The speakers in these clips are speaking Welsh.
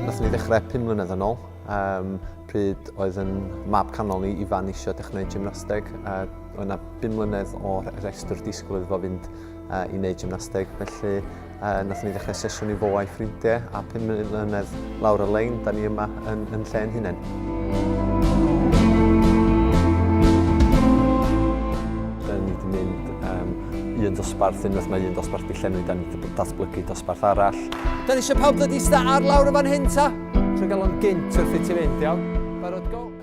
Nathon ni ddechrau pum mlynedd yn ôl, um, pryd oedd yn mab canol ni Ifan eisiau dechrau gwneud gymnasteg. Uh, oedd yna bum mlynedd o'r rhestr disgwyl iddo fo fynd a i wneud gymnasteg, felly uh, nath ni ddechrau sesiwn i fo a'i ffrindiau, a pum mlynedd lawr y lein, da ni yma yn, yn lle yn hunain. Da ni wedi mynd um, un dosbarth, unwaith mae un dosbarth di llenwi, da ni wedi datblygu dosbarth arall. Da ni eisiau pawb ddod i sta ar lawr y fan hyn ta? Trwy gael o'n gynt wrth i ti fynd, iawn?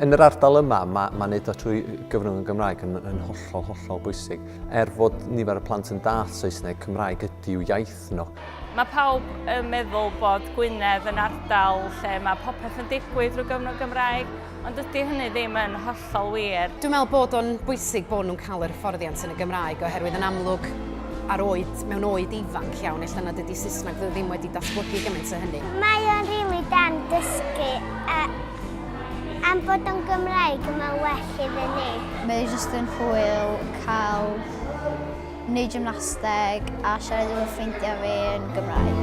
Yn yr ardal yma, mae, mae wneud o trwy gyfrwng y Gymraeg yn, yn hollol, hollol bwysig. Er fod nifer y plant yn dall Saesneg, Cymraeg ydyw iaith nhw. Mae pawb yn meddwl bod Gwynedd yn ardal lle mae popeth yn digwydd drwy gyfrwng Gymraeg, ond dydy hynny ddim yn hollol wir. Dwi'n meddwl bod o'n bwysig bod nhw'n cael yr hyfforddiant yn y Gymraeg oherwydd yn amlwg ar oed, mewn oed ifanc iawn, ella nad ydy Saesneg ddim wedi datblygu gymaint o hynny. Mae o'n rili da yn dysgu a Am bod o'n Gymraeg, mae'n well iddyn ni. Mae e jyst yn hwyl cael neud gymnasteg a siarad efo ffrindiau fi yn Gymraeg.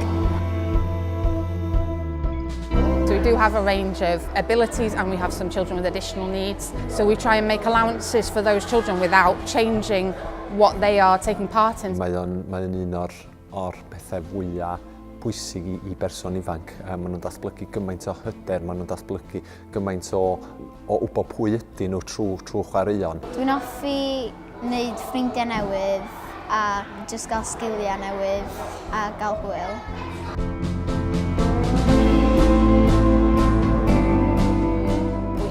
So we do have a range of abilities and we have some children with additional needs. So we try and make allowances for those children without changing what they are taking part in. Mae o'n mae un o'r o'r pethau fwya' pwysig i i berson ifanc. Yy ma' nhw'n datblygu gymaint o hyder, ma' nhw'n datblygu gymaint o o wybod pwy ydyn nhw trwy trwy chwaraeon. Dwi'n hoffi wneud ffrindiau newydd a jyst gael sgiliau newydd a gael hwyl.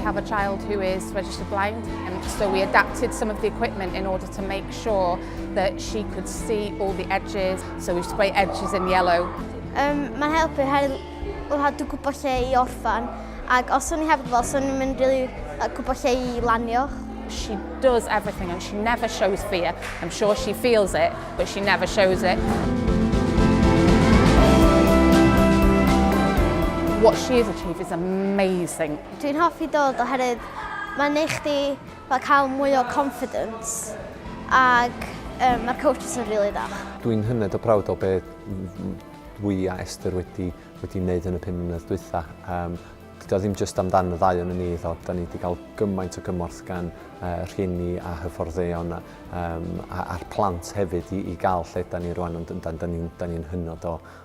have a child who is registered blind and so we adapted some of the equipment in order to make sure that she could see all the edges, so we spray edges in yellow. Um, mae'n helpu her lhadw gwybod lle i orffan, ac os o'n i hefyd fel, so o'n i'n mynd rili really, gwybod lle i lanio. She does everything and she never shows fear. I'm sure she feels it, but she never shows it. What she has achieved is amazing. Dwi'n hoffi dod oherwydd mae'n ei chdi Fel cael mwy o confidence ac yym ma'r coaches yn rili dda. Dwi'n hynod o proud o be dwi a Esther wedi wedi neud yn y pum mlynedd dwytha. Yym dydi o ddim jyst amdan y ddau onyn ni iddo, 'dan ni 'di ga'l gymaint o gymorth gan yy rhieni a hyfforddeion a yym a a'r plant hefyd i i ga'l lle 'dan ni rŵan ond yndan 'dan ni'n 'dan ni'n hynod o